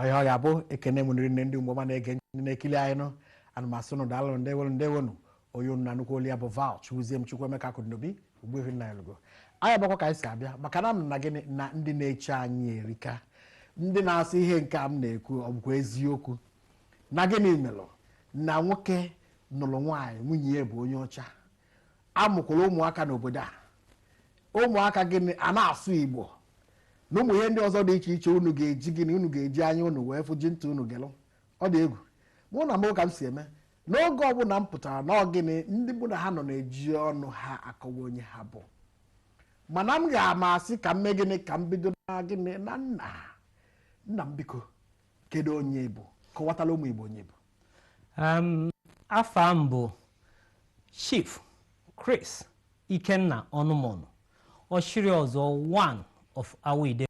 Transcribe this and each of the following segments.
ọya ọya bụ ekene m unu rinne ndị mgbe ọma na-ege ndị na-ekili anyị nụ ana m asị unu daalụ ndewonu ndewonu onye unu na-anụkwa olu ya bụ val chukwuzie m chukwuemeka akụdinobi ogbuefi nnanyelugo anyị abịakwa ka anyị si abịa maka na m na gịnị na ndị na-eche anyị erika ndị na-asị ihe nke a m na-ekwu ọ bụkwa eziokwu na gịnị melụ na nwoke nụlụ nwaanyị nwunye ya bụ onye ọcha amụkwara ụmụaka n'obodo a ụmụaka gịnị a na-asụ igbo na ụmụ ihe ndị ọzọ dị iche iche unu ga-eji gịnị unu ga-eji anya unu wee fụ ji ntị unu gelụ ọ dị egwu mana ka m si eme n'oge ọbụla m pụtara na ọ gịnị ndị mụ na ha nọ na-eji ọnụ ha akọwa onye ha bụ mana m ga-amasị ka m mee gịnị ka m bido na gịnị na nna nna m biko kedu onye ị bụ kọwatala ụmụ igbo onye ị bụ um, afa m bụ chief chris ikenna ọnụmọnụ ọchịrịọzụọ one of awo ide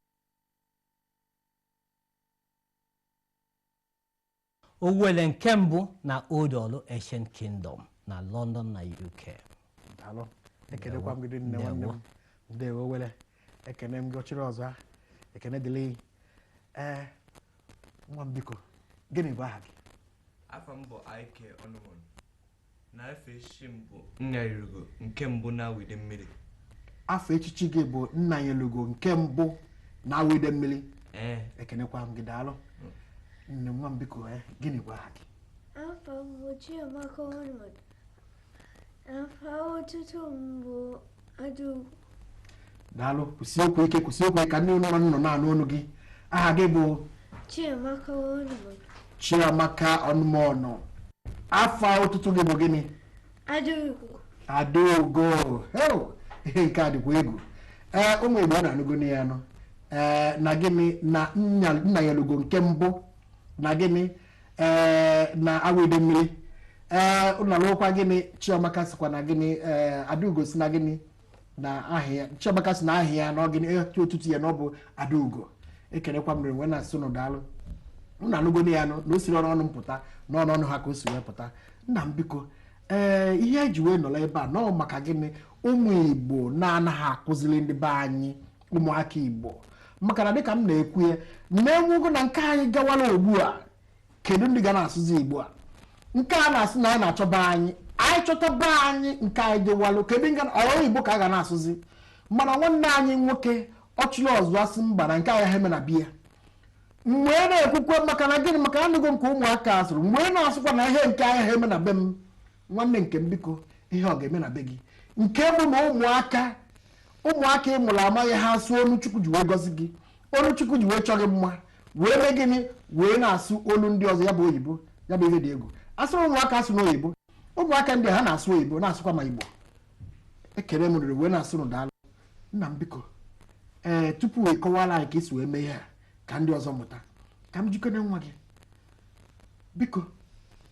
owelle nke mbụ na old orlu ancient kingdom na london na uk daalụ ekenekwa m gị rinne Ndewo. nwanne m ndewo owelle ekene m gị ọchịrịọzụọ ekene dịrị gị ee nwa m biko gịnị bụ aha gị afa m bụ ike ọnụmọnụ na afa echichi m bụ nnanyelugo nke mbụ na awo idemmili afa echichi gị bụ nnanyelugo nke mbụ na awo idemmili ee ekenekwa m gị daalụ nne nwa m biko ee gịnị bụ aha gị Afa m bụ Chiamaka Ọnụmọnụ. Afa otutu m bụ Adaugo. daalụ kwụsie okwu ike kwụsie okwu ike ka ndị nọrọ n'ụnọ na-anụ ọnụ gị aha gị bụ Chiamaka Ọnụmọnụ. chiamaka ọnụmọnụ afa otutu gị bụ gịnị Adaugo. adaugo heo ihe nke a dịkwa egwu ee ụmụ igbo ụnụ anụgonu ya nụ ee na gịnị na nna nnanyelugo nke mbụ na gịnị ee na awo idemmili ee ụnụ anụkwa gịnị chiamaka sikwa na gịnị ee adaugo si na gịnị na aha ya chiamaka si na aha ya na ọ gịnị aha otutu ya na ọ bụ adaugo ekelekwa m ụnụ wee na-asị ụnụ daalụ ụnụ anụgonu ya nụ na o sirọ n'ọnụ m pụta na ọ n'ọnụ ha ka o si wee pụta nna m biko ee ihe eji wee nọrọ ebe a na ọ maka gịnị ụmụ igbo na-anaghị akụziri ndị be anyị ụmụaka igbo maka na dịka m na-ekwu ya na e nwego na nke anyị gawara ugbu a kedu ndị ga na-asụzi igbo a nke a na-asị na anyị na-achọba anyị anyị chọtaba anyị nke anyị gawalụ kedu nga olu igbo ka a ga na-asụzi mana nwanne anyị nwoke ọchịlịọzụa asị mba na nke anyị ha eme na be ya wee na-ekwukwa maka na gịnị maka anụgo nke ụmụaka asụrụ wee na-asịkwa na ihe nke anyị ha eme na be m nwanne nke m biko ihe ọ ga-eme na be gị nke bụ na ụmụaka ụmụaka ị mụrụ amaghị ha asụ olu chukwu ji wee gọzie gị olu chukwu ji wee chọ gị mma wee mee gịnị wee na-asụ olu ndị ọzọ ya bụ oyibo ya bụ ihe dị egwu asụrụ ụmụaka asụ n'oyibo ụmụaka ndị ha na-asụ oyibo na-asụkwa ma igbo ekele m rinne wee na-asị unu daalụ nna m biko ee tupu ị kọwara anyị ka i si wee mee ihe a ka ndị ọzọ mụta ka m jụkene nwa gị biko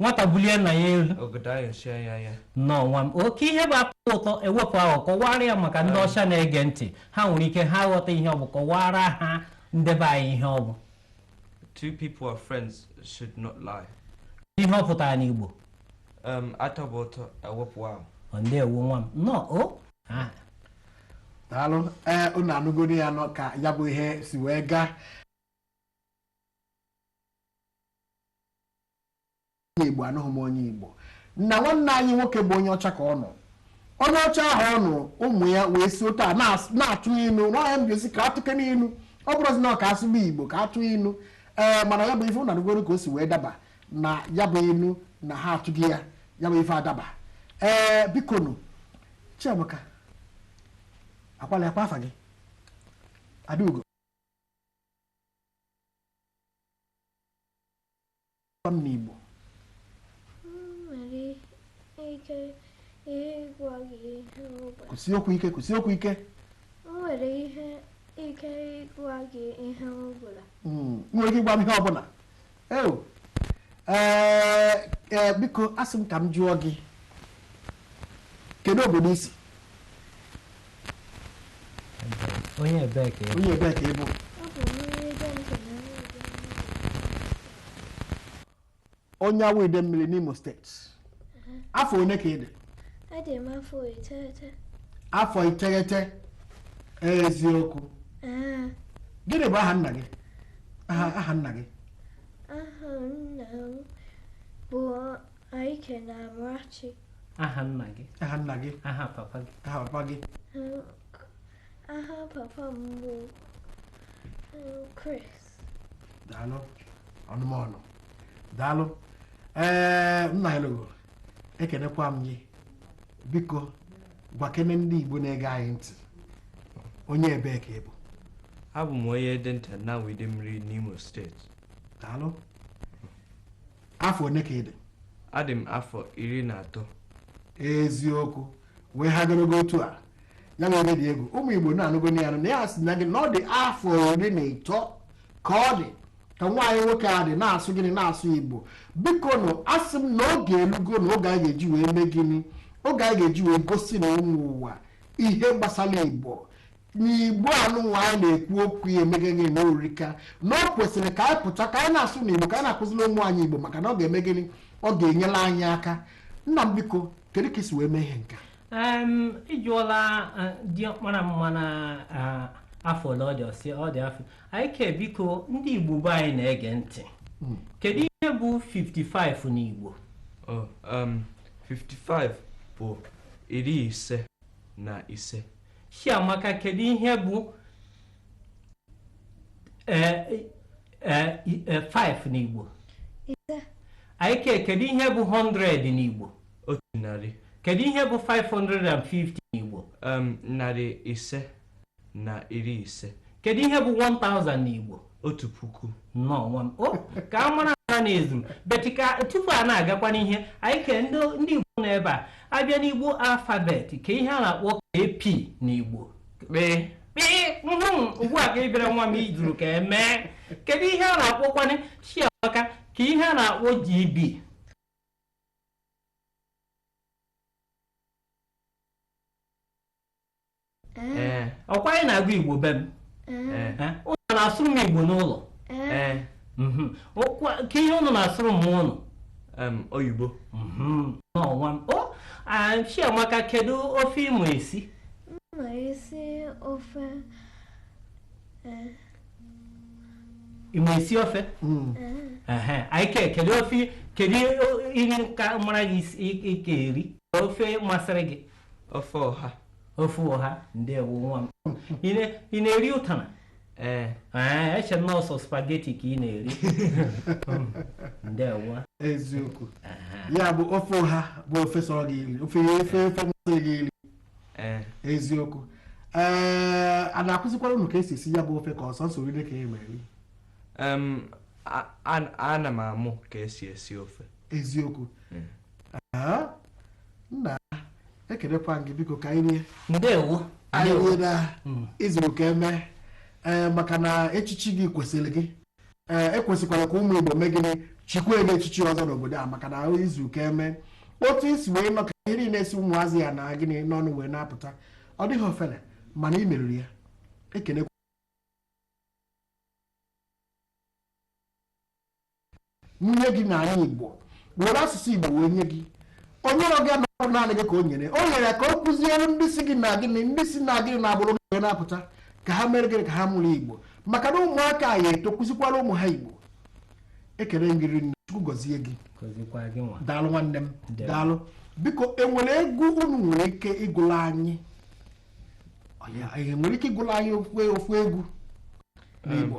nwata bulie nna ya elu ọgọdọ ayọchie ya anya nnọọ nwa m kee ihe bụ atọ ụtọ e wepụ aghụghọ kọwara ya maka ndị ọcha na-ege ntị ha nwere ike ha ghọta ihe ọ bụ kọwara ha ndị be anyị ihe ọ bụ two people are friends should not lie ihe ọ pụtara n'igbo um, atọba ụtọ e wepụ aghụghọ ndeewo nwa m nnọọ o ah. daalụ ee eh, unu anụgoro ya nụ ka ya bụ ihe si wee gaa onye Igbo anụghị m onye Igbo na nwanne anyị nwoke bụ onye ọcha ka ọ nụ onye ọcha ahụ ọ nụ ụmụ ya wee si otu a na-atụ inu nya bụ a sị ka a tụkene inu ọ bụrụzi na ọ ka asụba Igbo ka atụ inu ee mana ya bụ ife unu anụgoro ka o si wee daba na ya bụ inu na ha atụgo ya ya bụ ife adaba ee bikonụ Chiamaka akwala akwa afa gị Adaugo n'Igbo kwusie okwu ike kwusie okwu ike nwere ike ịgwa gị ihe ọbụla hmm, nwere ike ịgwa m ihe ọbụla ee eh, eh, biko asị m ka m jụọ gị kedu obodo i si onye ebee ka ị bụ? onye ebee ka ị bụ onye Awo Idemili n'imo steeti afọ one ka ị dị Adị m afọ iteghete. afọ iteghete eziokwu Ee, gịnị bụ aha nna gị aha aha nna gị aha nna m bụ Aike na Amarachi. Aha nna gị. Aha nna gị. Aha papa gị. Aha papa gị. Aha papa m bụ um, Chris. Daalụ ọnụmọnụ. Daalụ. Ee nna ya lụgo ekenekwa m gị biko gwakene ndị Igbo na-ege anyị ntị onye ebee ka ị bụ abụ m onye Edenta n'Awo-Idemili n'Imo steeti daalụ afọ one ka ị dị adị m afọ iri na atọ eziokwu wee ha ogologo otu a ya nwa oge dị egwu ụmụ igbo ụnụ anụgo na ya na ya sị na gị na ọ dị afọ iri na ịtọ ka ọ dị ka nwa anyị nwoke a dị na-asụ gịnị na-asụ igbo bikonụ asị m na oge elugonụ oge anyị ga-eji wee mee gịnị oge anyị ga-eji wee gosi na ụmụ ụwa ihe gbasara igbo n'igbo anụnwa anyị na-ekwu okwu ya emego gịnị na o rika na o kwesịrị ka anyị pụta ka anyị na-asụ n'igbo ka anyị na-akụziri ụmụ anyị igbo maka na ọ ga-eme gịnị ọ ga-enyela anyị aka nna m biko kedu ka i si wee mee ihe nke a Em, ị jụọla eh, diọkpara m a na ah, afọ ole ọ dị ọ sị ọ dị afọ Aike biko ndị igbo be anyị na-ege ntị kedu ihe bụ 55 n'igbo Oh, um, 55 bụ iri ise na ise Chiamaka kedu ihe bụ ee ee ee 5 n'Igbo ise Aike kedu ihe bụ 100 n'Igbo otu narị kedu ihe bụ 550 n'Igbo um, narị ise na iri ise kedu ihe bụ 1000 n'Igbo otu puku nnọọ nwa m o ka a mara ha na-ezu but ka tupu a na-agakwa n'ihu Aike ndị ndị igbo nọ ebe a a bịa n'igbo alfabet kee ihe a na-akpọ kp n'igbo kpee kpee mhm, ugbu a ka ị bịara nwa m i zuru ka e mee kedu ihe a na-akpọkwanị chiamaka kee ihe a na-akpọ gb ee ọkwa anyị na-agụ igbo be m ee Eh, ụnụ na-asụrụ m igbo n'ụlọ ee Mhm. Ọkwa- kee ihe ụnụ na-asụrụ m ụnụ em, oyibo nnọọ nwa m o ah, chiamaka kedu ofe ị ma esi M nwere isi ofe eh, ị ma esi ofe eh, Ehe, Aike kedu ofe kedu ihe ka mara gị isi- ị- ị ka eri ofe masịrị gị ofe ọha ofe ọha ndewo nwa m ị na-eri ụtara ee eche m na ọ sọ spageti ka ị na-eri ndewo eziokwu ya bụ ofe ọha bụ ofe sọrọ gị iri ofe ofe ofe mmasị gị iri eziokwu ee a na-akụzikwara unu ka esi esi ya bụ ofe ka ọ sọ nsọ iri ka e mere ana m amụ ka esi esi ofe eziokwu Ah, nna ekelekwa m gị biko ka anyị rie ndewo anyị ndewo rinne Mm. i zuru ka eme ee maka na echichi gị kwesịrị gị ee ekwesịkwara ka ụmụ igbo mee gịnị chikwa gị echichi ọzọ n'obodo a maka na i zuru ka eme otu i si wee nọ ka ihe niile si ụmụazị a na gịnị n'ọnụ wee na-apụta ọ dịghị ofele mana ị meriri ya ekele nye gị na anyị igbo were asụsụ igbo wee nye gị o nyere gị anọrọ naanị gị ka o nyere o nyere ka ị kụziere ndị si gị na gịnị ndị si na gịnị n'agbụrụ gị na-apụta ka ha mere gịnị ka ha mụrụ igbo maka na ụmụaka a ya-eto kụzikwara ụmụ ha igbo ekele gị rinne chukwu gọzie gị gọzikwa gị nwa daalụ nwanne m Ndewo. daalụ biko e nwere egwu unu nwere ike ịgụla anyị Ọ ya- nwere ike ịgụla anyị ofu ofu egwu n'igbo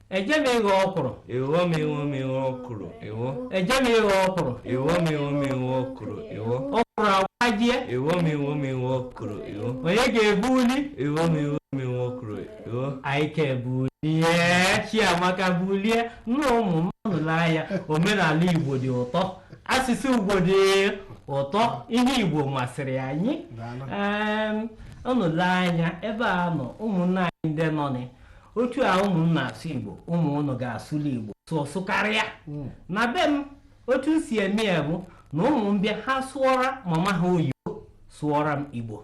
Eje m ịghọ ọkwụrụ. Ịghọ m ịghọ m ịghọ ọkwụrụ ịghọ. Eje m ịghọ ọkwụrụ. Ịghọ m ịghọ m ịghọ ọkwụrụ ịghọ. Ọkwụrụ agbajie. Ịghọ m ịghọ m ịghọ ọkwụrụ ịghọ. Onye ga-ebuli? Ịghọ m ịghọ m ịghọ ọkwụrụ ịghọ. Anyị ga-ebuli. Ihe Chiamaka bulie nna ụmụ m unu lee anya omenala Igbo dị ụtọ asụsụ Igbo dị ụtọ ihe Igbo masịrị anyị Daalụ. Em, unu lee anya ebe a nọ ụmụnna anyị ndị nọ na otu a ụmụ m na-asụ igbo ụmụ ụnụ ga-asụli igbo sụọ sụkarịa hmm. na be m otu m si eme ya bụ na ụmụ m bịa ha sụọra mama ha oyibo sụọra m igbo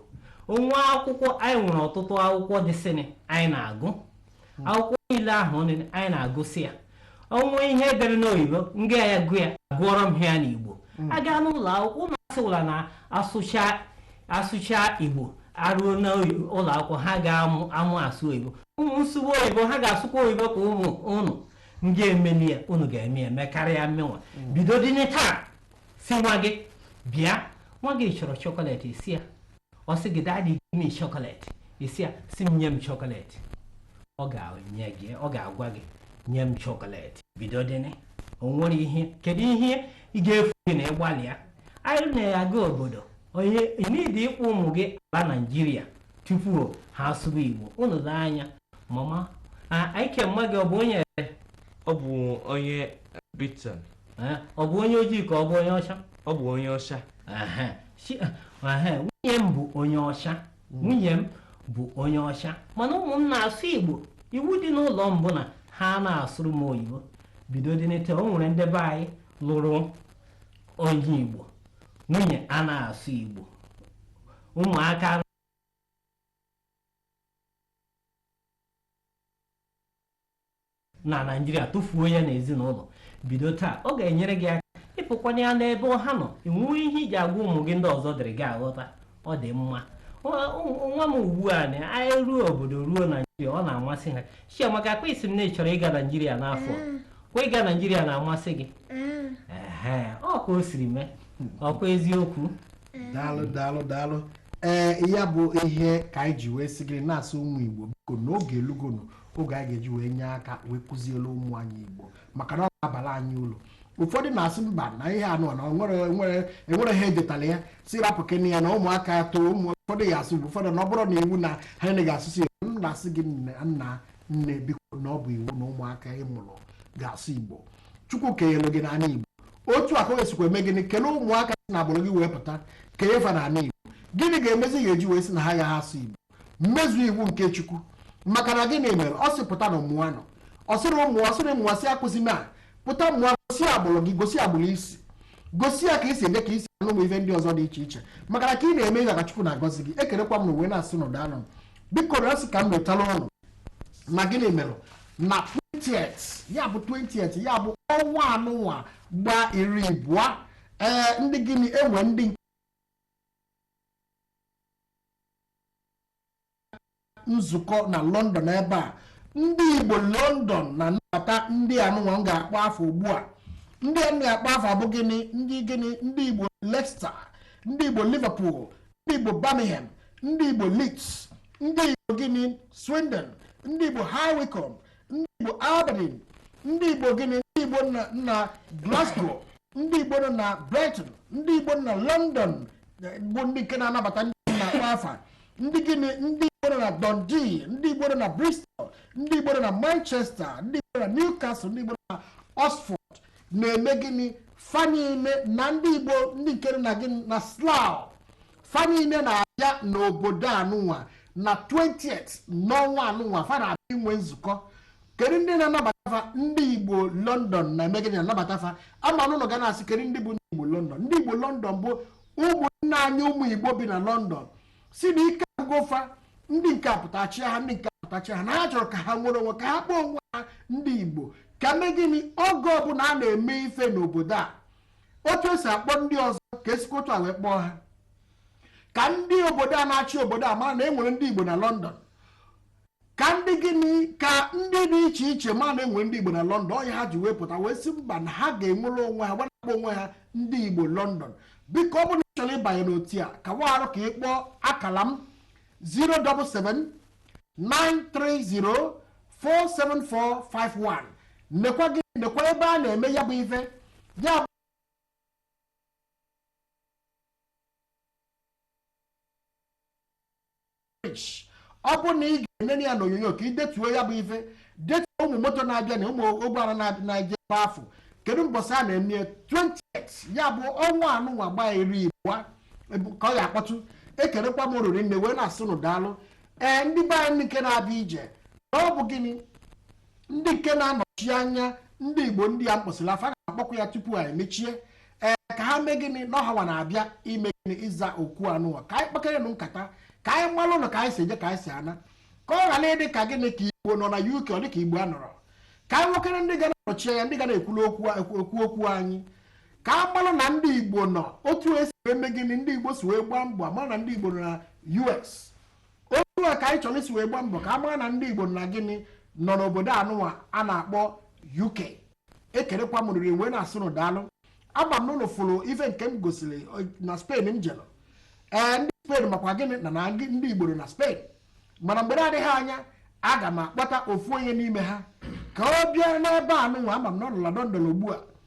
o nwe akwụkwọ anyị nwere ọtụtụ akwụkwọ dịsịnị anyị na-agụ hmm. akwụkwọ niile ahụ anyị na-agụsị ya o nwe ihe e dere n'oyibo m ga-agụ ya gụọrọ ha ya n'igbo hmm. aga n'ụlọ akwụkwọ ụmụ asụwala na asụcha asụcha igbo ha ruo n'ụlọ akwụkwọ ha ga-amụ amụ asụ oyibo ụmụ m sụwa oyibo ha ga-asụkwa oyibo ka ụmụ ụnụ m ga-emeli ya ụnụ ga-eme ya mekarịa mụ nwa hmm. bido dịnị taa sị nwa gị bịa nwa gị chọrọ chọkọletị sị ya ọ sị gị daddy give me chocolate ị sị ya sị m nye m chocolate ọ ga-enye gị ọ ga-agwa gị nye m chocolate bido dịnị o nwere ihe kedu ihe ọ ga-efu gị na ịgbalị ya anyị na-aga obodo o nweghị need ịkpọ ụmụ gị ala naijiria tupu ha asụba igbo unu lee anya mama anyị kee mama gị ọ bụ onye ọ bụ onye britain ọ bụ onye ojii ka ọ bụ onye ọcha ọ bụ onye ọcha nwunye m bụ onye ọcha nwunye m bụ onye ọcha mana ụmụ m na-asụ igbo iwu dị n'ụlọ m bụ na ha na-asụrụ m oyibo bido dị n'ete o nwere ndị be anyị lụrụ onye igbo nwunye a na-asụ igbo ụmụaka na naijiria tụfuo ya na ezinụlọ bido taa ọ ga-enyere gị aka ịpụkwanye ya n'ebe ha nọ ị nwee ihe ị ji agwa ụmụ gị ndị ọzọ adịghị aghọta ọ dị mma nwa m ugbu a na anyị ruo obodo ruo naijiria ọ na-amasị ha chiamaka ọkwa ị sị m na ị chọrọ ịga naijiria n'afọ mm. kwa ịga naijiria na-amasị gị mm. ọ ka o siri mee ọkwa eziokwu mm. daalụ daalụ daalụ ee ya bụ ihe ka anyị ji wee sị gị na-asụ ụmụ igbo biko na oge elugonụ oge anyị ga-eji wee nye aka wee kụziere ụmụ anyị igbo maka na ọ ga-abara anyị uru ụfọdụ na-asị mba na ihe anụ na enwere ha edetara ya sị rapụkene ya na ụmụaka too ụfọdụ ya asụ igbo ụfọdụ na ọ bụrọ iwu na ha eneghị asụsụ ya m na-asị gị nna nne biko na ọ bụ iwu na ụmụaka ị mụrụ ga-asụ igbo chukwu kenyere gị n'ala igbo otu a ka o esikwa eme gịnị kelee ụmụaka si na agbụrụ gị wee pụta kenye fa n'ala igbo gịnị ga-emezi ga-eji wee sị na ha ya ha asụ igbo mezuo iwu nke chukwu maka na gịnị mere ọ sị pụta na mụọ nọ ọ sịrị ụmụ ọ sịrị mụọ sị akwụsịna pụta mụọ gosi agbụrụ gị gosi agbụrụ i si gosi ya ka i si eri ka i si aṅụ ụmụ ife ndị ọzọ dị iche iche maka na ka ị na-eme ihe ka chukwu na-agọzi gị ekelekwa m unu wee na-asị unu daalụ nụ biko na sị ka m metala ọnụ na gịnị mere na 20th ya bụ 20th ya bụ ọnwa anụnwa gba iri abụọ ee ndị gịnị enwe ndị nzukọ na London ebe a ndị Igbo London na-anabata ndị anụnwa m ga-akpọ afa ugbu a ndị a m ga-akpọ afa bụ gịnị ndị gịnị ndị Igbo Leicester ndị Igbo Liverpool ndị Igbo Birmingham ndị Igbo Leeds ndị Igbo gịnị Swindon ndị Igbo High Wycombe ndị Igbo Aberdeen ndị Igbo gịnị ndị Igbo na Glasgow ndị Igbo nọ na Brighton ndị Igbo nọ na London bụ ndị nke na-anabata ndị na-akpọ afa ndị gịnị ndị Igbo nọ na Dundee ndị Igbo nọ na Bristol ndị Igbo nọ na Manchester ndị Igbo nọ na Newcastle ndị Igbo nọ na Oxford na-eme gịnị fa niile na ndị Igbo ndị nke na gịnị na Slough fa niile na-abịa n'obodo anụnwa na 20th n'ọnwa anụnwa fa na-abịa inwe nzukọ kedu ndị na-anabata fa ndị igbo london na-eme gịnị na-anabata fa ama m na unu ga na-asị kedu ndị bụ ndị igbo london ndị igbo london bụ ụmụnna anyị ụmụ igbo bi na london sị na ike agwụgo fa ndị nke a pụta chịa ha ndị nke a pụta chịa ha na ha chọrọ ka ha nwere onwe ka ha kpọọ onwe ha ndị igbo ka mee gịnị oge ọbụla a na-eme ife n'obodo a otu esi akpọ ndị ọzọ ka esikwa otu a wee kpọọ ha ka ndị obodo a na-achị obodo a mara na e nwere ndị Igbo na London ka ndị gịnị ka ndị dị iche iche ma na e nwere ndị Igbo na London ọ ya ha ji wee pụta wee sị mba na ha ga-enwere onwe ha ga na-akpọ onwe ha ndị Igbo London biko ọ bụrụ na ị chọrọ ịbanye n'otu a ka warụ ka ị kpọọ akala m 077-930-47451 nekwa gị nekwa ebe a na-eme ya bụ ife ya bụ ọ bụ na ị ga-enene ya n'onyonyo ka ị detuo ya bụ ife detuo ụmụ moto na-abịa na ụmụ ụgbọala na-abịa na-eje ebe afụ kedu mbọsị a na-eme 28 ya bụ ọnwa anụnwa gbaa iri abụọ Ebu- ka ọ ya akpọtụ ekelekwa m ụnụ rinne wee na-asị ụnụ daalụ ee ndị be anyị nke na-abịa ije na ọ bụ gịnị ndị nke na-anọchi anya ndị igbo ndị a m kpọsịrị afa na-akpọkwa ya tupu anyị mechie ee ka ha mee gịnị na ọ hanwa na-abịa ime gịnị ịza okwu anụwa ka anyị kpakere nụ nkata ka anyị malụ na ka anyị si eje ka anyị si ana ka ọ ghara ịdị ka gịnị ka igbo nọ na uk ọ dị ka igbo anọrọ ka anyị nwekere ndị ga na-anọchi anya ndị ga na-ekwulu okwu ekwu okwu anyị ka a mara na ndị igbo nọ otu esi wee mee gịnị ndị igbo si wee gbaa mbọ a mara na ndị igbo nọ na us otu a ka anyị chọrọ isi wee gbaa mbọ ka a mara na ndị igbo nọ na gịnị nọ n'obodo anụnwa a na-akpọ uk ekelekwa m rinne wee na-asị ụnụ daalụ ama m na ụnụ fụrụ ife nke m gosiri eh, na spain m jere ee ndị spain makwa gịnị na na gị- ndị igbo nọ na spain mana mgbe na-adịghị anya aga m akpọta ofu onye n'ime ha ka ọ bịa n'ebe anụnwa ama m na ọ nọ na london ugbu a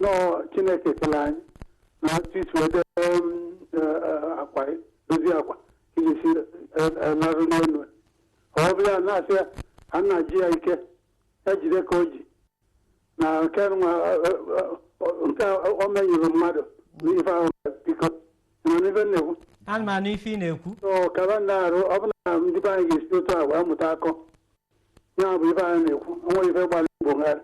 nọọ chineke kele anyị na otu ị si wee dee um, eh, eh, akwa gị, dozie akwa ka ị ga-esi larụ n'elu ọ bụ ya na-asị ya a na-ajụ ya ike ya jide ka o ji na nke nwa eh, eh, eh, nke a o menyeru mmadụ n'ife ahụ biko ị na-anụ ife m na-ekwu ana m anụ ife ị na-ekwu so kaba na-arụ ọ bụ na ndị be anyị ga-esi otu a wee mụta akọ ya bụ ife anyị na-ekwu o nwe ife gbara igbo ngharị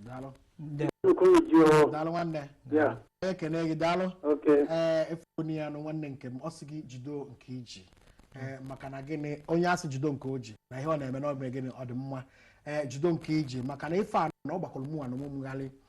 daalụ Nde- nnukwu unu ji o daalụ nwanne ya ekene gị daalụ oke ee ị fụgo ya nụ nwanne nke m ọ sị gị jido nke ị ji ee maka na gịnị onye a sị jido nke o ji na ihe ọ na-eme na ọ bụ gịnị ọ dị mma ee jido nke ị ji maka na ife a na ọ gbakwara mụwa n'onwe m gharị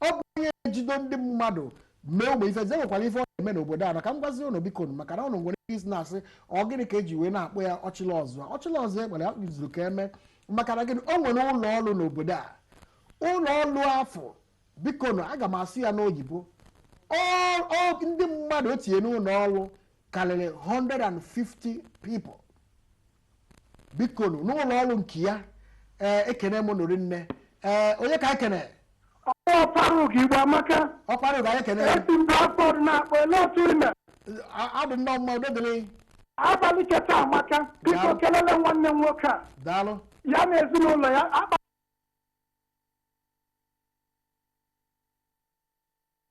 ọ bụ onye ejido ndị mmadụ mee ụmụ ife ze nwekwara ife ọ na-eme n'obodo a na ka m gwazie ụnụ biko nụ maka na ụnụ nwere ike isi na-asị ọ gịnị ka e ji wee na-akpọ ya ọchịlịọzụa ọchịlịọzụa e kpere ya zuru ka eme maka na gịnị o nwere ụlọ ọrụ n'obodo a ụlọ ọrụ afụ biko nụ aga m asụ ya n'oyibo ọ- ọ- ndị mmadụ o tinye n'ụlọ ọrụ karịrị 150 people bikonu n'ụlọ ọrụ nke ya ee ekene m ụnụ rinne ee onye ka ekene Ọkpara Ugo Igbo Amaka, Ọkpara Ugo anyị ekene ya esi m Bradford na-akpọ ele otu i me. A- adị nnọọ mma udo dịrị Abalị cheta Amaka, biko Daalụ. kelele nwanne m nwoke a, daalụ ya na ezinụlọ ya akpa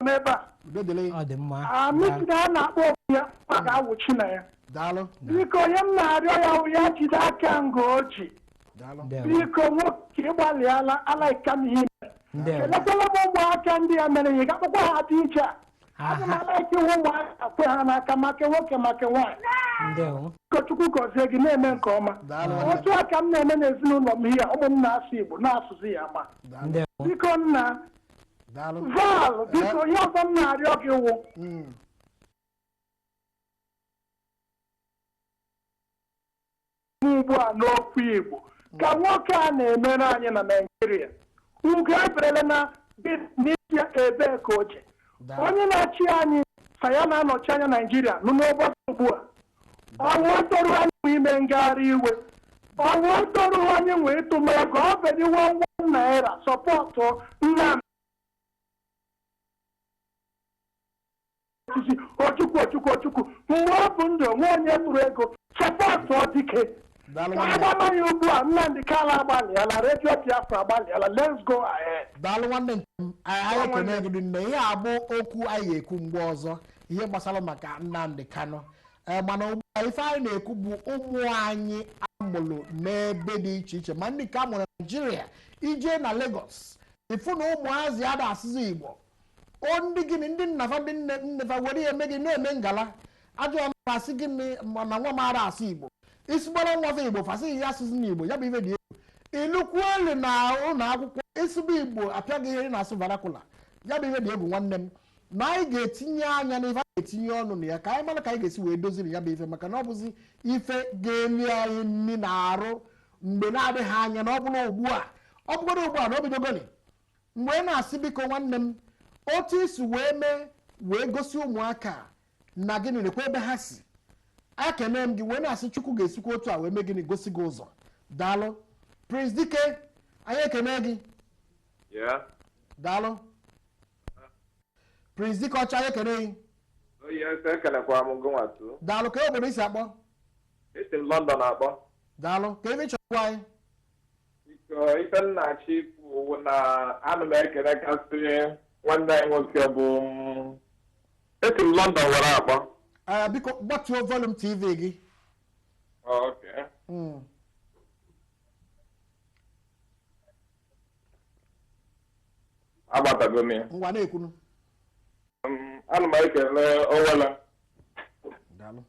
n'ebe a udo dịrị ọ dị mma Ah, Miss na a na-akpọ okwu ya ọ ga-awụchi na ya daalụ biko ihe m na-arịọ ya wụ ya jide aka nga o ji daalụ ndewo biko nwoke ịgbalịala alaika m ihe ndewo elekwala m ụmụaka ndị ya mere ya ga-akpọkwa ha dị iche a aga m aha alaiki ịhụ ụmụaka kwe ha n'aka maka nwoke maka nwaanyị ndewo ka chukwu gọzie gị ị na-eme nke ọma daalụ otu a ka m na-eme n'ezinụlọ m ihe a, ụmụ m na-asụ igbo na-asụzi ya ma daalụ ndewo biko nna daalụ val biko ihe ọzọ m na-arịọ gị wụ Mm. ugbu a n'okwu igbo ka nwoke a na-emere anyị na naijiria ugo eberele na dị n'isi ebe ka oche Onye na-achị anyị sị ya na-anọchi anya Naịjirịa nọ n'ọgbakọ ugbua. Ọwụ ọtọrọ anyị nwe ime ngagharị iwe. Ọwụ ọtọrọ anyị nwe ịtụ ma ego ọ bụdị one naira sọpọtụ Nnamdi osisi Ojukwu Ojukwu Ojukwu mgbe ọ dị ndụ o nwe onye tụrụ ego sọpọtụ Dike daalụ ka nwanne anyị gbaba ya ugbu a nnamdị kanụ agbalịala redio biafra agbalịala let's go ahead daalụ nwanne nke m anyị anyị ekene gị rinne ihe a bụ okwu anyị ga-ekwu mgbe ọzọ ihe gbasara maka nnamdị kanụ ee mana ugbu a ife anyị na-ekwu bụ ụmụ anyị a mụrụ n'ebe dị iche iche ma ndị nke a mụrụ na naijiria i je na Lagos ị fụ na ụmụazị ada asụzi igbo O ndị gịnị ndị nna fa ndị nne nne fa were eme gị na-eme ngala a jụọ ọnụ a sị gị na nwa m amarọ asụ igbo ị sụbara nwa fa igbo fa sị ya asụzina igbo ya bụ ife dị egwu i lukwuo elu na ụlọ akwụkwọ ị sụba igbo a pịa gị ihe na-asụ vernacular ya bụ ife dị egwu nwanne m na anyị ga-etinye anya na ife a ga-etinye ọnụ na ya ka anyị mara ka anyị ga-esi wee doziri ya bụ ife maka na ọ bụzi ife ga-eli anyị nri na arụ mgbe na-adịghị anya na ọ bụrụ ugbu a ọ bụgoro ugbu a na o bidogoni M wee na-asị, Biko, nwanne m, otu i si wee mee wee gosi ụmụaka a na gịnị nekwa ebe ha si ekene m gị wee na-asị chukwu ga-esikwa otu a wee mee gịnị gosi gị ụzọ daalụ prince dike anyị ekene gị Yeah. daalụ prince dike ọcha anyị ekene gị Oh, yes, ekelekwa m gị nwatu. daalụ kee obodo i si akpọ Esi m London akpọ. daalụ kee ihe ị chọrọ ịgwa anyị Biko, ife m na-achọ ikwu bụ na ana m ekele kasị nwanne anyị nwoke bụ m. esi m London were akpọ Ah, biko gbatuo volum tv gị Okay. Mm. agbatago m ya ngwa na-ekwunu Um, ana m ekele Owele daalụ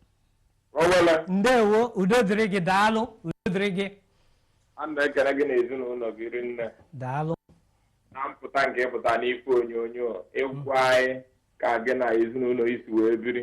Owele ndewo udo dịrị gị daalụ udo dịrị gị ana m ekele gị na ezinụlọ gị rinne daalụ na mpụta nke ịpụta n'ife onyonyo ịgwa anyị ka gị na ezinụlọ i si wee biri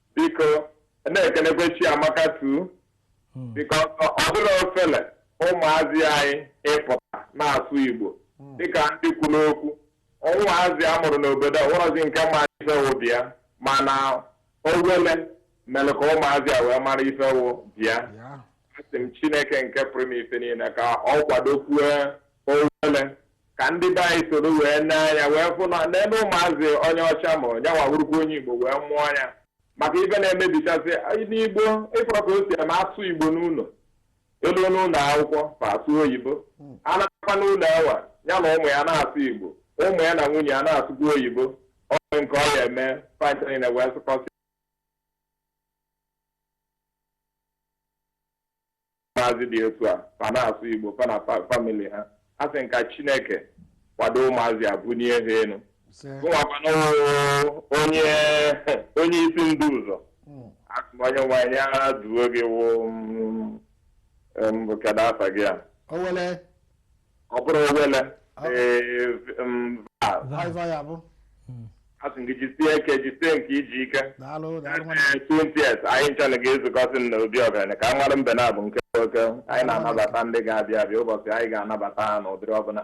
biko na-ekenekwe Chiamaka too biko ọ dịrọ ofele ụmụazị anyị ịpụta na-asụ igbo dịka ndị kwuru okwu ụmụazị a mụrụ n'obodo a o nwerọzi nke ma ife wụ bịa mana owele mere ka ụmụazị a wee mara ife wụ bịa asị m chineke nke pụrụ ime ife niile ka ọ kwadokwue owele Ka ndị be anyị soro wee nee anya wee fụ na nene ụmụazị onye ọcha mụrụ ya nwa wụrụkwa onye Igbo wee mụọ ya maka ife na-emebichasị n'Igbo ị fụrụ ka o si eme asụ Igbo n'ụlọ eluo n'ụlọ akwụkwọ fa asụ oyibo a naakwa n'ụlọ ewa ya na ụmụ ya na-asụ Igbo ụmụ ya na nwunye ya na-asụkwa oyibo onye nke ọ ya eme pint niile wee sụkọsị ụmụazị dị etu a fa na-asụ igbo fa na fa- famili ha asị m ka chineke kwado ụmụazị a bunie ha elu ise gụnwakwana onye onye isi ndị ụzọ Mm. asị m onye nwe anyị ya duo gị wụ mm, em, kedu afa gị a owele ọ bụrụ owele ee, m, va- Viva ya bụ. asị gị jisie ike jisie nke i ji ike Daalụ, daalụ nwanne. Ee, 20th anyị ncha na ga-ezukọsị na obi ọgaranya ka a mara mbe naabọ nke wụ oke anyị na-anabata ndị ga-abịa abịa ụbọchị anyị ga-anabata ha n'ụdịrị ọbụla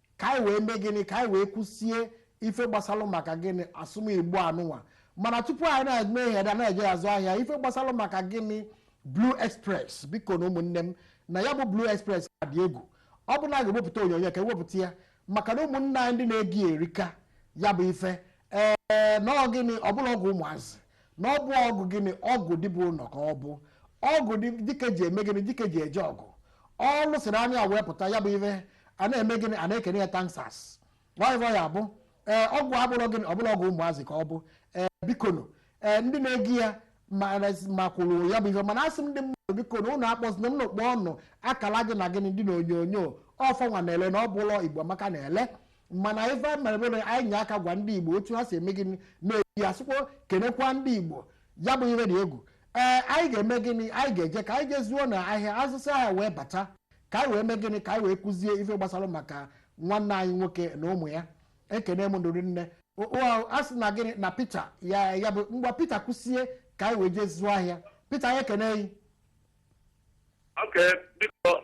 ka anyị wee mee gịnị ka anyị wee kwụsie ife gbasalụ maka gịnị asụm igbo anụnwa mana tupu anyị na-eme ihe da na-eje azụ ahịa ife gbasalụ maka gịnị blue express biko na ụmụnne m na ya bụ blue express ka dị egwu ọ bụ na a ga-ewepụta onyonyo ka ewepụta ya maka na ụmụnne anyị ndị na-eji erika ya bụ ife ee na ọ gịnị ọ bụrọ ọgwụ ụmụazị na ọ bụ ọgwụ gịnị ọgwụ di bi ụlọ ka ọ bụ ọgwụ dị- dike ji eme gịnị dike ji eje ọgụ ọ lụsịrị anya wee pụta ya bụ ife a na-eme gịnị a na-ekene ya thank sir ọịvọ ya bụ ee ọgwụ a bụrọ gịnị ọ bụrọ ọgwụ ụmụazị ka ọ bụ ee bikonu ee ndị na-eji ya ma ma kwuru ya bụ ife mana asị m ndị mmadụ bikonu ụnụ akpọzina m kpọọ ọnụ akala gị na gịnị dị na onyonyo ọfọnwa na-ele na ọ bụ ụlọ igbo amaka na-ele mana ife anyị mere bụ na anyị nye aka gwa ndị igbo otu ha si eme gịnị na-eji ya sịkwa kenekwa ndị igbo ya bụ ihe dị egwu ee anyị ga-eme gịnị anyị ga-eje ka anyị je zụọ na ahịa azụsịa ahịa wee bata ka anyị wee mee gịnị ka anyị wee kwuzie ife gbasara maka nwanne anyị nwoke na ụmụ ya ekene m unu rinne O- o- a sị na gịnị na Peter ya ya bụ ngwa Peter kwusie ka anyị wee jee zụọ ahịa Peter anyị ekene gị oke biko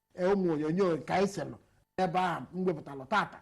ee, ụmụ onyonyo nke anyị selụ n'ebe ahụ m wepụtalụ tata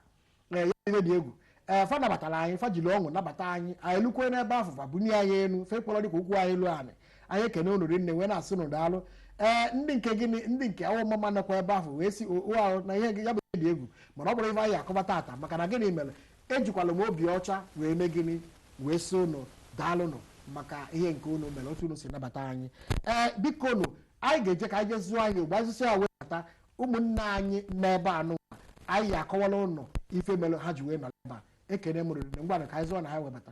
ee, ya ihe dị egwu ee fa nabatara anyị fa jiri ọṅụ nabata anyị anyị lukwe n'ebe afụ fa bunye anyị elu fa kpọrọ dịka ụkwụ anyị elu anyị anyị ekene unu rinne wee na-asị unu daalụ ee ndị nke gịnị ndị nke awo omamma nọkwa ebe afụ wee si o ahụ na ihe gị ya bụ ihe dị egwu mana ọ bụrọ ife anyị akọba tata maka na gịnị mere ejikwala m obi ọcha wee mee gịnị wee sị unu daalụnụ maka ihe nke unu mere otu unu si nabata anyị ee biko nụ anyị ga-eje ka anyị je zụọ ahịa gbazisi ya wee bata ụmụnne anyị n'ebe anụwa anyị akọwala unu ife mere ha ji wee nọrọ ebe a ekene m unu rinne ngwanụ ka anyị zụọ na ahịa wee bata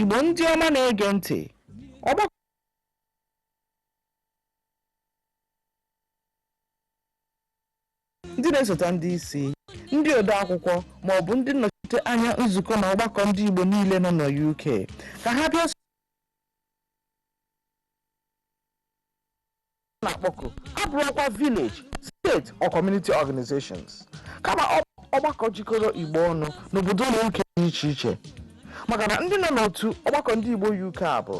Igbo ndị ọma na-ege ntị ọgbakọ ndị na-esote ndị isi ndị ode akwụkwọ ma ọ bụ ndị nnọchite anya nzukọ na ọgbakọ ndị Igbo niile nọ na UK ka ha bịa na-akpọku abụrọkwa village state or community organizations kama ọgbakọ jikọrọ igbo ọnụ n'obodo na uk dị iche iche maka na ndị nọ n'otu ọgbakọ ndị igbo uk a bụ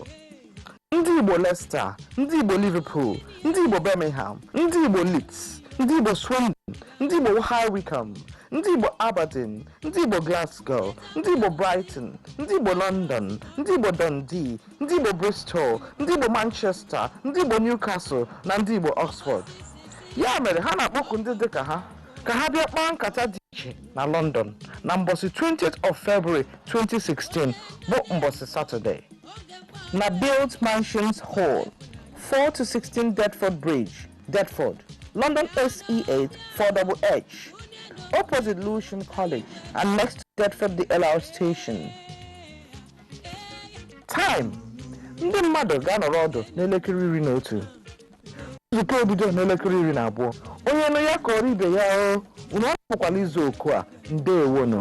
ndị igbo leicester ndị igbo liverpool ndị igbo birmingham ndị igbo leeds ndị igbo swindon ndị igbo high wycombe ndị igbo aberdeen ndị igbo glasgow ndị igbo brighton ndị igbo london ndị igbo dundee ndị Igbo Bristol, ndị Igbo Manchester, ndị Igbo Newcastle na ndị Igbo Oxford. Ya mere ha na-akpọku ndị dị ka ha ka ha bịa kpaa nkata dị iche na London na mbọsị 20th of February 2016 bụ mbọsị Saturday na Built Mansions Hall 4 to 16 Deptford Bridge, Deptford, London SE8 4HH, opposite Lewisham College and next to Deptford DLR station. Time ndị mmadụ ga-anọrọ ọdụ n'elekere iri na otu nzukọ ebido n'elekere iri na abụọ onye nụ ya kọọrọ ibe ya o unu apụkwala izu oku a ndewonụ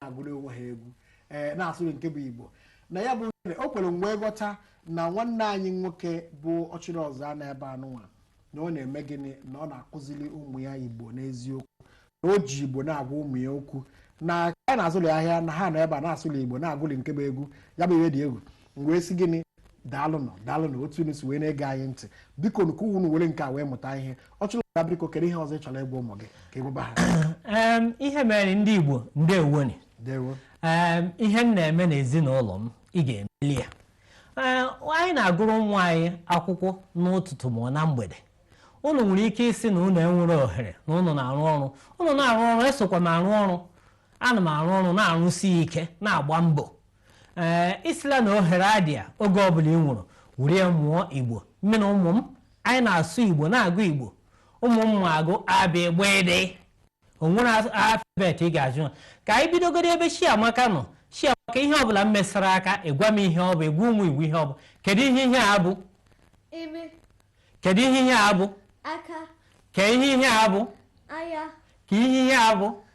na-agụlị onwe ha egwu ee na-asụlị nke bụ igbo na ya bụ nke o kwuru m wee ghọta na nwanne anyị nwoke bụ ọchịrịọzụa n'ebe anụnwa na ọ na-eme gịnị na ọ na-akụziri ụmụ ya igbo n'eziokwu na o ji igbo na-agwa ụmụ ya okwu na ha na-azụlị ahịa na ha nọ ebe a na-asụlị igbo na-agụlị nke bụ egwu ya bụ ihe dị egwu m wee sị gịnị daalụ nụ daalụ na otu unu si wee na-ege anyị ntị biko ka unu were nke a wee mụta ihe ọchịrịọzụa biko kedu ihe ọzọ ị chọrọ ịgwa ụmụ gị ka ị gwaba ha Em, ihe mere ndị igbo ndewoni dewo Em, ihe m na-eme n'ezinụlọ m ị ga-emeli ya Ee, anyị na-agụrụ nwa anyị akwụkwọ n'ụtụtụ ma na mgbede unu nwere ike ịsị na unu enwere ohere na unu na-arụ ọrụ unu na-arụ ọrụ esokwa m arụ ọrụ ana m arụ ọrụ na-arụsi ike na-agba mbọ ee ị sịla na ohere adịa oge ọbụla i nwere were ya mụọ igbo mụ na ụmụ m anyị na-asụ igbo na-agụ igbo ụmụ m ma agụ a b gb d o nwere alfabet ị ga-ajụ ha ka anyị bidogodu ebe chiamaka nọ chiamaka ihe ọbụla m mesara aka ị gwa m ihe ọ bụ ị gwa ụmụ igbo ihe ọ bụ kedu ihe ihe a bụ imi kedu ihe ihe a bụ aka kee ihe ihe a bụ anya kee ihe ihe a bụ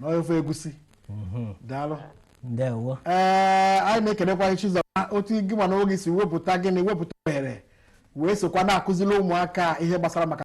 n'ofe egusi mhm. daalụ ee anyị na-ekelekwa Chizọba otu gị ma nwunye gị si wepụta gịnị wepụta ohere wee sokwa na-akụziri ụmụaka ihe gbasara maka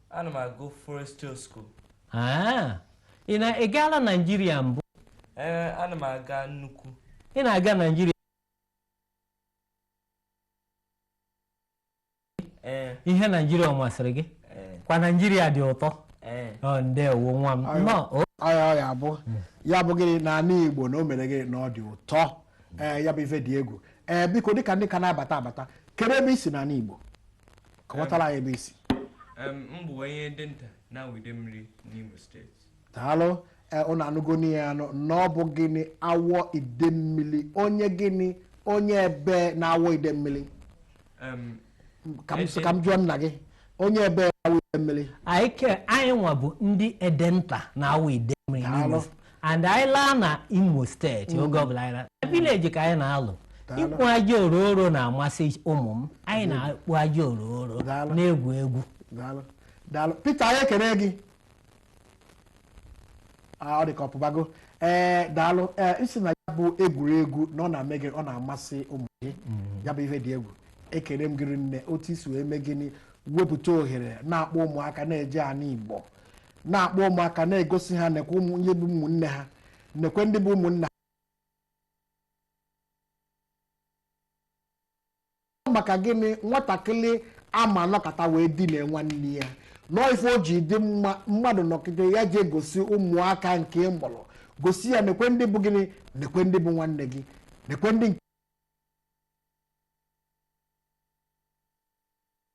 Ana m agụ Foresthill School. Ah, ị na ị gaala Naịjirịa mbụ? Ee, ana m aga nnukwu. Ị na-aga Naịjirịa? Ee, Ihe Naịjirịa ọ masịrị gị? ee, Kwa Naịjirịa dị ụtọ. ee. Ọ ndewo nwa m. Ayo. Nnọọ. o. ọya ọya abụ ya bụ gịnị na anị igbo na o mere gịnị na ọ dị ụtọ ee ya bụ ife dị egwu ee biko dịka ndị ka na-abata abata kedu ebe i si na anị igbo kọwatara anyị ebe i si m bụ onye edenta n'awọ idemmili n'Imo steeti daalụ ụnụ anụgo nụ ya nụ na ọ bụ gịnị awọ idemmili onye gịnị onye ebe n'awọ idemmili ka m jụọ nna gị onye ebe n'awọ idemmili anyị nwa bụ ndị edenta n'awọ idemmili and anyị laa na imo steeti oge ọbụla anyị laa na vileji ka anyị na-alọ Daalụ. ịkpụ aja orooro na-amasị ụmụ m anyị na-akpụ aja orooro Daalụ. na-egwu egwu daalụ daalụ Peter anyị ekele gị Ah, ọ dị ka ọ pụbago ee daalụ ee ị sị na ya bụ egwuregwu na ọ na-eme gịnị ọ na-amasị ụmụ gị ya bụ ihe dị egwu ekele m gị rinne otu i si wee mee gịnị wepụta ohere na-akpọ ụmụaka na-eje anị igbo na-akpọ ụmụaka na-egosi ha nekwe ụmụ ndị bụ ụmụnne ha nekwe ndị bụ ụmụnna ha maka gịnị nwatakịrị ama anọkata wee dine nwanne ya nọọ ife o ji dị mma mmadụ nọkata ya jee gosi ụmụaka nke ị mụrụ gosi ya nekwe ndị bụ gịnị nekwe ndị bụ nwanne gị nekwe ndị nke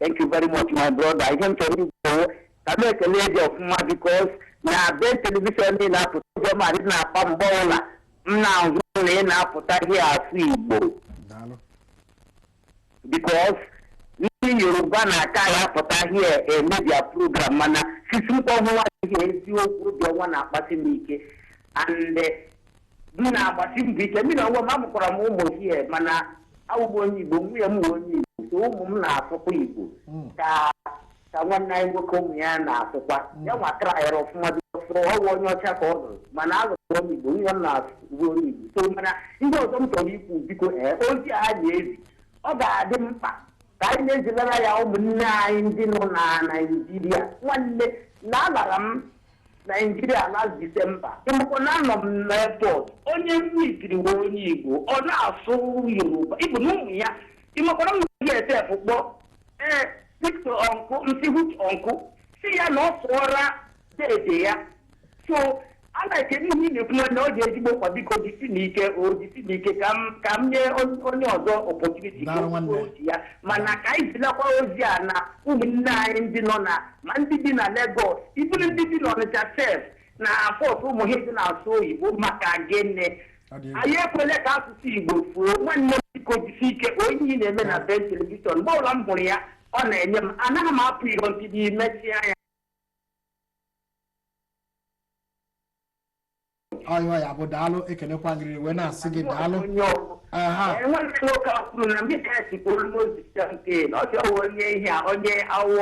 Thank you very much, my brother. Ihe m chọrọ ikwu ka m ekele gị ọfụma because na BEN telivishọn ị na-apụta oge ma dị na-akpa mgbe ọbụla m na-ahụ na ị na-apụta gị asụ Igbo daalụ because ndị Yoruba na-akara apụta here eme their program mana since mkpọhụwa ihe eziokwu dị ọnwa na-akpasi m ike and eh, m na-agbasi mbọ ike mụ n'onwe m amụkwara m ụmụ here mana awụ m onye igbo nwunye m wụ onye igbo so ụmụ m na-asụkwa igbo ka ka nwanne anyị nwoke ụmụ ya na-asụkwa ya nwa traịra ọfụma bịafụrụ ọ wụ onye ọcha ka ọ lụrụ mana alụrụ m onye igbo nwunye m na-asụkwa onye igbo so mana ndị ọzọ m chọrọ ikwu biko ee ozi a na-ezi ọ ga-adị mkpa ka anyị na-ezilara ya ụmụnne anyị ndị nọ na naijiria nwanne na alara m naijiria last disemba ị makwa na anọ m na airport onye mmikiri wụ onye igbo ọ na-asụ yoruba even ụmụ ya ị makwara m na ya sef kpọ ee Victor uncle m sị what uncle sị ya na ọ sụọra dede ya so a na-ekene ihe ị na-ekwu nwanne ọ dị ezigbo mkpa biko jisi na ike o jisi na ike ka m ka m nye on- onye ọzọ opportunity ka Daalụ o kwuo nwanne. ozi ya mana ka anyị zilakwa ozi a na ụmụnne anyị ndị nọ na ma ndị bi na Legọs even ndị bi n'Ọnịcha sef na pọt ụmụ ha dị na-asụ oyibo maka gịnị Ọ dị egwu. anyị ekwele ka asụsụ igbo fuo nwanne m biko jisi ike n'ihe ị na-eme na BEN telivishọn mgbe ọbụla m hụrụ ya ọ na-enye m anaghị m apụ iro until ị mesịa ya ọ ọ ya bụ daalụ ekenekwa m gị riri wee na-asị gị daalụ onye ọgwụ aha enweghị nwoke a kwuru na mmiri a si kpolu n'ozi ya nke na ọ chọrọ onye ihe a onye Awọ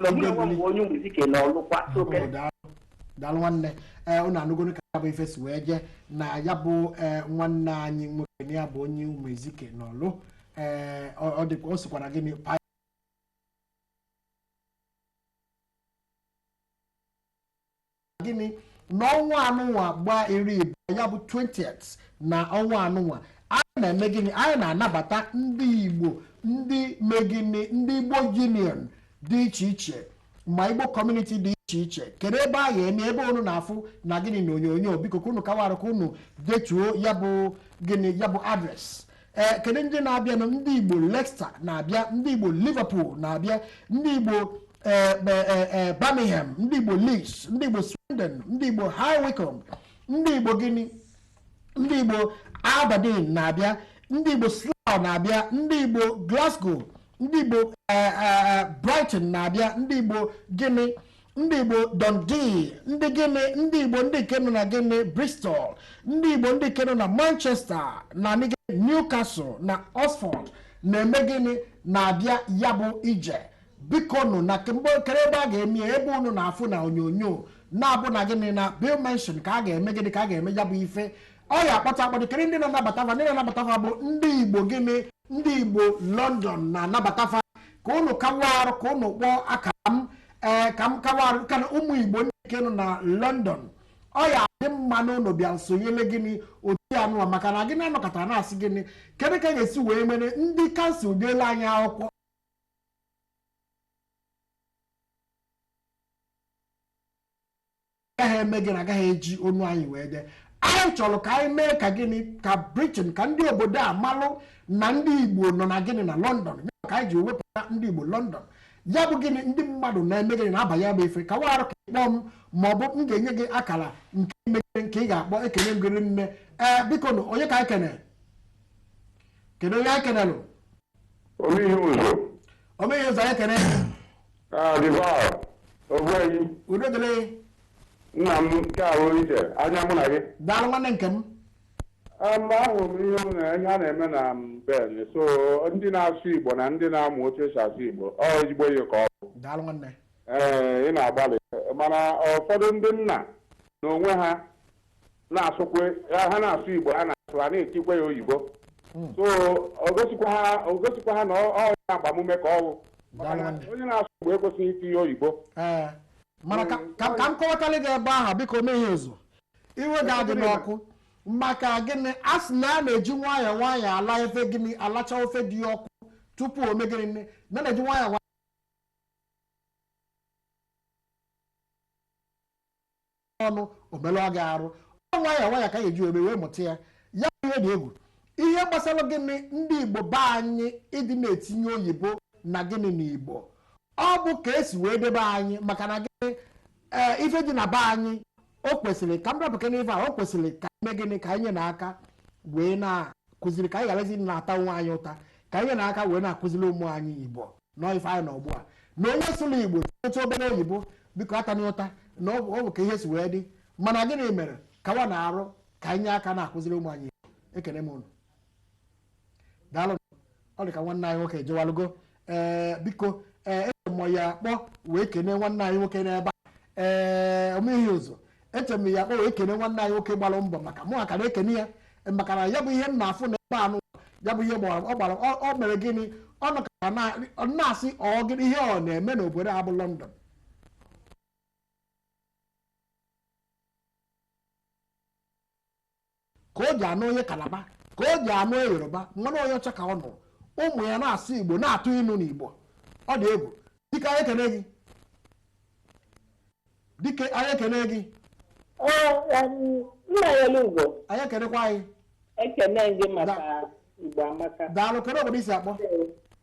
na onye nwe mgbe onye Ụmụezike na Ọlụ kwa so Ọ daalụ daalụ nwanne ee unu anụgonu ka ya bụ ife si wee jee na ya bụ ee nwanne anyị nwoke na ya bụ onye Ụmụezike n'Ọlụ ee ọ ọ dịkwa o sikwara gịnị pa gịnị na ọnwa anụnwa gbaa iri ịbụa ya bụ 20th na ọnwa anụnwa anyị na-eme gịnị anyị na-anabata ndị igbo ndị me gịnị ndị igbo union dị iche iche ma igbo community dị iche iche kedu ebe a ga-eme ebe unu na-afụ na gịnị na onyonyo biko ka unu kawarụ ka unu detuo ya bụ gịnị ya bụ address ee kedu ndị na-abịanụ ndị igbo Leicester na-abịa ndị igbo Liverpool na-abịa ndị igbo ee, e- e- e, Birmingham ndị igbo Leeds ndị igbo Swindon ndị igbo High Wycombe ndị igbo gịnị ndị igbo Aberdeen na-abịa ndị igbo Slough na-abịa ndị igbo Glasgow ndị igbo eh, eh, Brighton na-abịa ndị igbo gịnị ndị igbo dundee ndị gịnị ndị igbo ndị nke nọ na gịnị bristol ndị igbo ndị nke nọ na manchester na newcastle na oxford na-eme gịnị na-abịa ya bụ ije biko nụ na kemgbe kere ebe a ga-eme ebe unu na-afụ na onyonyo na-abụ na gịnị na bill mention ka a ga-eme gịnị ka a ga-eme ya bụ ife ọ ya akpọtụ akpọtụ kere ndị na-anabata fa ndị na-anabata fa bụ ndị igbo gịnị ndị igbo london na-anabata fa ka unu kawa arụ ka unu kpọọ aka m ee ka m kawa ka na ụmụ igbo ndị nke nọ na london ọ ya adị mma na unu bịa sonyele gịnị otu anụwa maka na gịnị anọkọta na-asị gịnị kedu ka a ga-esi wee mere ndị kansụl deela anyị akwụkwọ agaghị eme gịnị agaghị eji ọnụ anyị wee dee anyị chọrọ ka anyị mee ka gịnị ka Britain ka ndị obodo a malụ na ndị Igbo nọ na gịnị na London ka anyị ji wepụta ndị Igbo London ya bụ gịnị ndị mmadụ na-eme gịnị na-abịa ya bụ ife kawa arụ ka ị kpọọ m ma ọ bụ m ga-enye gị akara nke m kere nke ị ga-akpọ ekene m gị rinne ee biko nụ onye ka anyị kenere kedu onye anyị kenelụ Omeihe ụzọ. Omeihe ụzọ anyị kene Ah, Divine. Ogbuenyi. udo dịrị gị. Nna m nke ahụ iche. Anya mụ na gị. daalụ nwanne nke m Mm, ahụ m ihe m na- ihe a na-eme na Ben. So ndị na-asụ Igbo na ndị na-amụ otu esi asụ Igbo. Ọ ezigbo ihe ka ọ bụ. daalụ nwanne Ee, ị na-agbalị. Mana ụfọdụ ndị nna n'onwe ha na-asụkwe ha ha na-asụ igbo ha na-asụ ha na-etikwa ya oyibo so o gosikwa ha o gosikwa ha na ọ ọ ya agbamume ka ọ bụ maka na Daalụ. onye na-asụ igbo ekwesịghị itinye oyibo ee mana ka ka- ka m kọwatalị gị ebe ahụ biko Omeihe ụzọ iwe gị adịna ọkụ maka gịnị a sị na a na-eji nwayọọ nwayọọ ala ofe gịnị alacha ofe dị ọkụ tupu o mee gịnị na a na-eji nwayọọ nwayọọ ọnụ o melụọ gị arụ ọ nwayọ nwayọ ka a ga-eji eme wee mụta ya ya ihe dị egwu ihe gbasara gịnị ndị igbo be anyị ịdị na-etinye oyibo na gịnị na igbo ọ bụ ka e si wee debe anyị maka na gịnị ee ife dị na be anyị o kwesịrị ka m rapụke n'ife a o kwesịrị ka e mee gịnị ka anyị na aka wee na-akụziri ka anyị gharazi na-ata onwe anyị ụta ka anyị na aka wee na-akụziri ụmụ anyị igbo nọ ife anyị na ugbu a na onye sụrụ igbo otu obere oyibo biko atana ya ụta na ọ bụ ọ bụ ka ihe si wee dị mana gịnị mere ka wa na-arụ ka anyị nye aka na-akụziri ụmụ anyị igbo ekene m unu daalụ ọ dị ka nwanne anyị nwoke jewalụgo ee biko ee eji m ya kpọ wee kene nwanne anyị nwoke n'ebe a ee omeihe ụzọ eche m ya kpọ wee kene nwanne anyị nwoke gbara mbọ maka mụ akara ekene ya maka na ya bụ ihe m na-afụ na ebe a nụ ya bụ ihe gbara ọ gbara ọ- ọ mere gịnị ọ nọkara na- ọ na-asị ọ gịnị ihe ọ na-eme n'obodo a bụ London ka o ji anụ onye kalaba ka o ji anụ yoruba mana onye ọcha ka ọ nụrụ ụmụ ya na-asụ igbo na-atụ inu n'igbo ọ dị egwu dike anyị ekene gị dike anyị ekene gị nnanyelugo anyị ekenekwa anyị ekene gị maka igbo amaka daalụ kedu obodo i si akpọ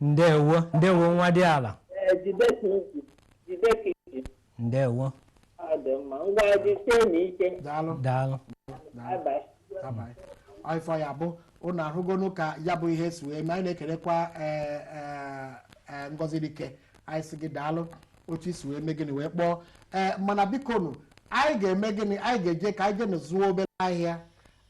ndewo ndewo nwadịala ndewo daalụ daalụ ife ọ ya-abụ ụnụ ahụgonụ ka ya bụ ihe si wee mee anyị na-ekelekwa ee, ee, ee, ngozi dike anyị sị gị daalụ otu i si wee mee gịnị wee kpọọ ee mana biko nụ anyị ga-eme gịnị anyị ga-eje ka anyị jeenụ zụọ obere ahịa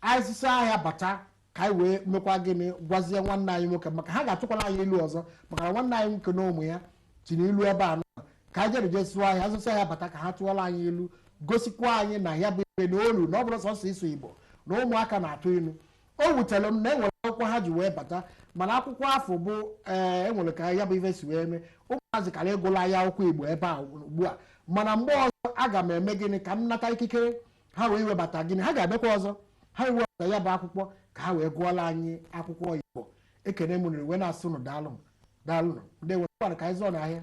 anyị zụsịa ahịa bata ka anyị wee mekwa gịnị gwazie nwanne anyị nwoke maka ha ga-atụkwala anyị ilu ọzọ maka na nwanne anyị nwoke na ụmụ ya tinye ilu ebe a nụwa ka anyị jere jee zụọ ahịa zụsịa ahịa bata ka ha tụọla anyị ilu gosikwa anyị na ya bụ ibe na olu na ọ bụrọ sọsọ ịsụ igbo na ụmụaka na-atụ ilu o wutere m na enwere akwụkwọ ha ji wee bata mana akwụkwọ afụ bụ ee eh, enwere ka ya bụ ife si wee mee ụmụazị kara ịgụla anyị akwụkwọ igbo ebe a ugbu a mana mgbe ọzọ aga m eme gịnị ka m nata ikikere ha wee webata gịnị ha ga-abịakwa ọzọ ha wee webata ya bụ akwụkwọ ka ha wee gụọla anyị akwụkwọ igbo ekene m ụnụ wee na-asị ụnụ daalụ m daalụ nụ ndewo ngwanụ ka anyị zụọnụ ahịa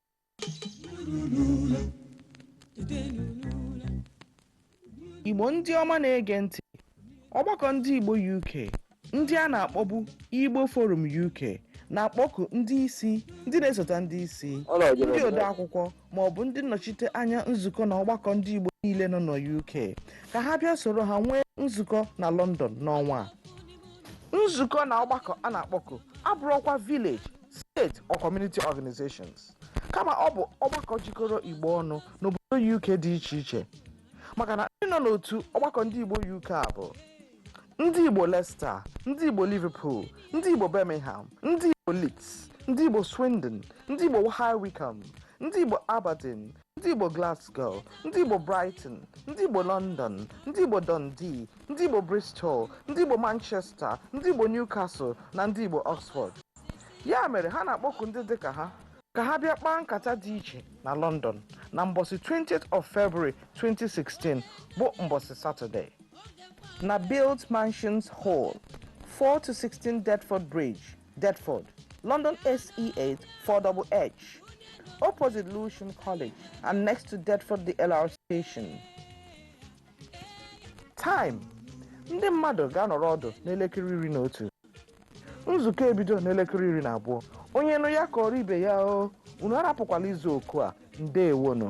igbo ndị ọma na-ege ntị ọgbakọ ndị igbo uk ndị a na-akpọbu igbo forum uk na-akpọku ndị isi ndị na-esota ndị isi ndị ode akwụkwọ ma ọ bụ ndị nnọchite anya nzukọ na ọgbakọ ndị igbo niile nọ na uk ka ha bịa soro ha nwee nzukọ na london n'ọnwa a. nzukọ na ọgbakọ a na-akpọku abụrụkwa village state or community organizations kama ọ bụ ọgbakọ jikọrọ igbo ọnụ n'obodo uk dị iche iche maka na ndị nọ n'otu ọgbakọ ndị igbo uk a bụ ndị igbo leicester ndị igbo liverpool ndị igbo birmingham ndị igbo leeds ndị igbo swindon ndị igbo high wycombe ndị igbo aberdeen ndị igbo glasgow ndị igbo brighton ndị igbo london ndị igbo dundee ndị igbo bristol ndị igbo manchester ndị igbo newcastle na ndị igbo oxford ya mere ha na-akpọku ndị dị ka ha ka ha bịa kpaa nkata dị iche na london na mbọsị 20th of february 2016 bụ mbọsị satọde na build mansions hall 4 to 16 deptford bridge Deptford, London SE8 4HH, opposite Lewisham College and next to Deptford DLR station. Time ndị mmadụ ga-anọrọ ọdụ n'elekere iri na otu nzukọ ebido n'elekere iri na abụọ onye nụ ya kọọrọ ibe ya o unu arapụkwala izu oku a ndewonu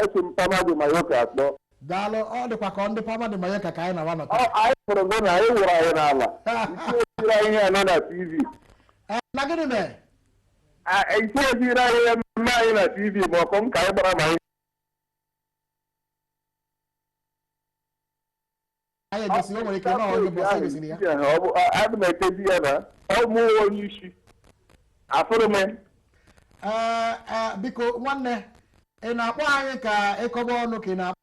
Esi m Palma de Mallorca akpọ. Daalụ, ọ dịkwa ka ọ ndị Palma de Mallorca ka anyị na-awa nọ taa. Anyị hụrụ gị na anyị wụrụ anyị n'ala. Isi anyị ihe anọ na TV. Eh, na gịnị mere? Isi esi anyị ihe mme anyị na TV ma ọkụ m ka anyị gbara ma anyị anyị egosi o nwere ike na onye bụ ọsọ gosiri ya adị m ekezi ya na ọ mụ onye isi afụrụ m Ee, ee, biko nwanne ị na-akpọ anyị ka ị kọba ọnụ ka ị na-akpọ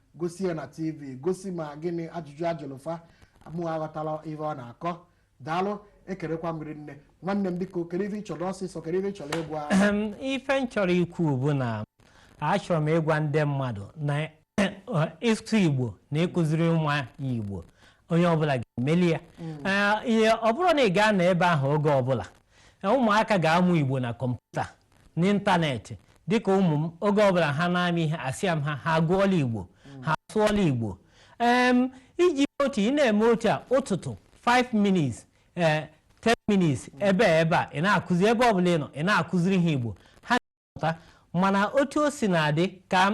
gosi ya na tv gosi ma gịnị ajụjụ ajụlụ fa mụ aghọtala ife ọ na-akọ daalụ ekelekwa m rinne nwanne m biko kedu ife ị chọrọ ọsịsọ kedu ife ị chọrọ ịgwa Ehem, ife m chọrọ ikwu bụ na achọrọ m ịgwa ndị mmadụ na ịsụ igbo na ịkụziri nwa igbo onye ọbụla ga-emeli ya Ee, ihe ọ bụrụ na ị gaa na ebe ahụ oge ọbụla ee, ụmụaka ga-amụ igbo na kọmputa n'ịntanetị dịka ụmụ m oge ọbụla ha na-amụ ihe asịa m ha ha agụọla igbo ha asụọla igbo em iji otu ị na-eme otu a ụtụtụ 5 minutes ee 10 minutes ebe a ebe a ị na-akụzi ebe ọbụla ị nọ ị na-akụziri ha igbo ha na-amụta mana otu o si na-adị ka m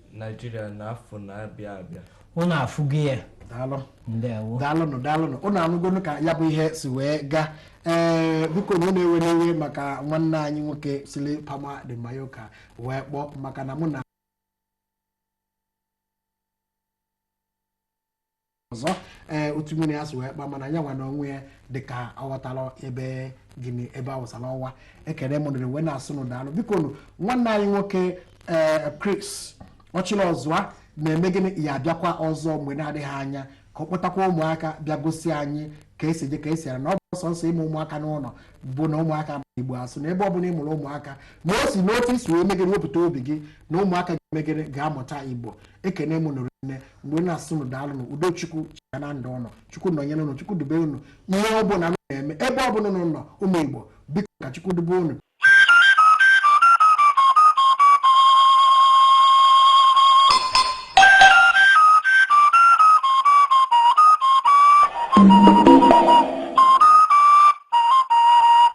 Naijiria na afọ na-abịa abịa ụnụ afụgo ya daalụ ndewo daalụnụ daalụnụ ụnụ anụgonụ ka ya bụ ihe si wee gaa ee biko na ụnụ ewene iwe maka nwanne anyị nwoke sili palma de mallorca wee kpọọ maka na mụ na ọzọ ee otu mmiri ya si wee kpa mana anya nwa na onwe ya dịka aghọtala ebe gịnị ebe awụsala ọwa ekele m unu wee na-asị unu daalụ biko nụ nwanne anyị nwoke ee Chris Ọchịlịọzụa na-eme gịnị ya abịakwa ọzọ mgbe na-adịghị anya ka ọ kpọtakwa ụmụaka bịa gosi anyị ka esi eje ka esi ala na ọ bụrọ sọnsọ ịmụ ụmụaka n'ụlọ bụ na ụmụaka ma igbo asụ na ebe ọ bụla ị mụrụ ụmụaka na o si n'otu i si wee mee gịnị wepụta obi gị na ụmụaka ga-eme gịnị ga-amụta igbo ekene m unu rinne wee na-asị unu daalụ nụ udo chukwu chịa na ndụ ụnụ chukwu nọnyere ụnụ chukwu dube ụnụ ihe ọ bụla unu na-eme ebe ọ bụla unu nọ ụmụ igbo biko ka chukwu dube ụnụ